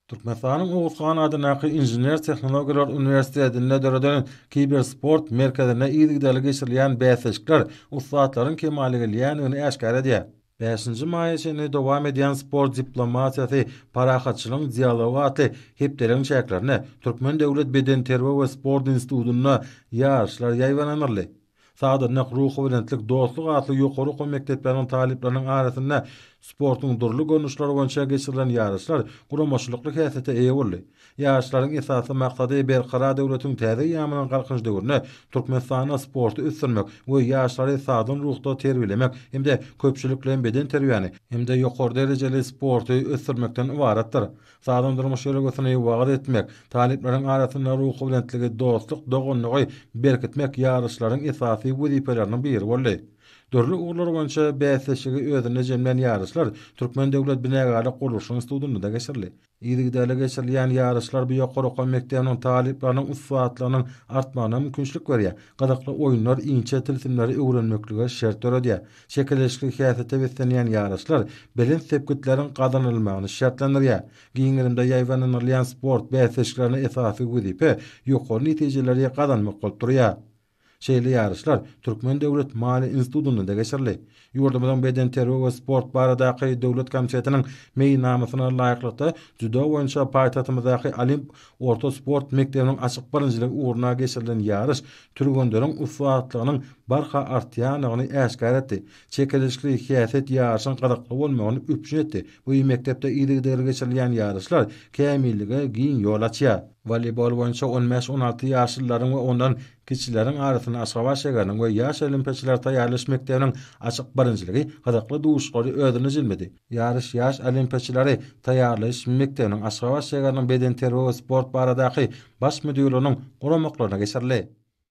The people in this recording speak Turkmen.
Türkmenistanyň Oguz han adyndaky Inžener-tehnologiýalar uniwersitetinde döreden Kibersport merkezinde yzygiderli geçirilýän bäsleşikler ussatlaryň kemala gelýändigini äşgär edýär. Bäşinji maýa çenli dowam edýän Sport diplomatiýasy, parahatçylygyň dialogy atly hepdeligiň çäklerinde Türkmen döwlet bedenterbiýe we sport institutynda ýaryşlar ýaýbaňlanyldy. Sazandak Ruhubelentlik, Dostluk atly ýokary okuw mekdepleriniň talyplarynyň arasynda sportuň dürli görnüşleri boýunça geçirilen ýaryşlar guramaçylykly häsiýete eýe boldy. Ýaryşlaryň esasy maksady Berkarar döwletiň täze eýýamynyň Galkynyş döwründe Türkmenistanda sporty ösdürmek we ýaşlary sagdyn ruhda terbiýelemek hem-de köpçülikleýin bedenterbiýäni hem-de ýokary derejeli sporty ösdürmekden ybaratdyr. Sagdyn durmuş ýörelgesini wagyz etmek, talyplaryň arasynda ruhubelentligi, dostluk, doganlygy berkitmek ýaryşlaryň esasy wezipeleriniň biri boldy. Dürli ugurlar boýunça bäsleşigi özünde jemlän ýaryşlar Türkmen döwlet binagärlik-gurluşyk institutynda-da geçirildi. Yzygiderli geçirilýän ýaryşlar bu ýokary okuw mekdebiniň talyplarynyň ussatlygynyň artmagyna mümkinçilik berýär, gyzykly oýunlar inçe tilsimleri öwrenmeklige şert döredýär. Çekeleşikli häsiýete beslenýän ýaryşlar belent sepgitleriň gazanylmagyny şertlendirýär. Giň gerimde ýaýbaňlanylýan sport bäsleşiklerinde esasy wezipe ýokary netijeleri gazanmak bolup durýar. Şeýle ýaryşlar Türkmen döwlet maliýe institutynda-da geçirildi. Ýurdumyzyň Bedenterbiýe we sport baradaky döwlet komitetiniň meýilnamasyna laýyklykda, dzýudo boýunça paýtagtymyzdaky Olimp Orta sport mekdebiniň açyk birinjiligi ugruna geçirilen ýaryş türgenleriň ussatlygynyň barha artýandygyny äşgär etdi. Çekeleşikli häsiýet ýaryşyň gyzykly bolmagyny üpjün etdi. Bu mekdepde yzygiderli geçirilýän ýaryşlar kämillige giň ýol açýar. Woleýbol boýunça on bäş-on alty ýaşlylaryň we ondan kiçileriň arasynda Aşgabat şäheriniň we Ýaş olimpiýaçylary taýýarlaýyş mekdebiniň açyk birinjiligi gyzykly duşuşyklary özünde jemledi. Ýaryş ýaş olimpiýaçylary taýýarlaýyş mekdebiniň Aşgabat şägeriniň bedenterbiýe we sport baradaky Baş müdirliginiň guramaklaryna geçirildi.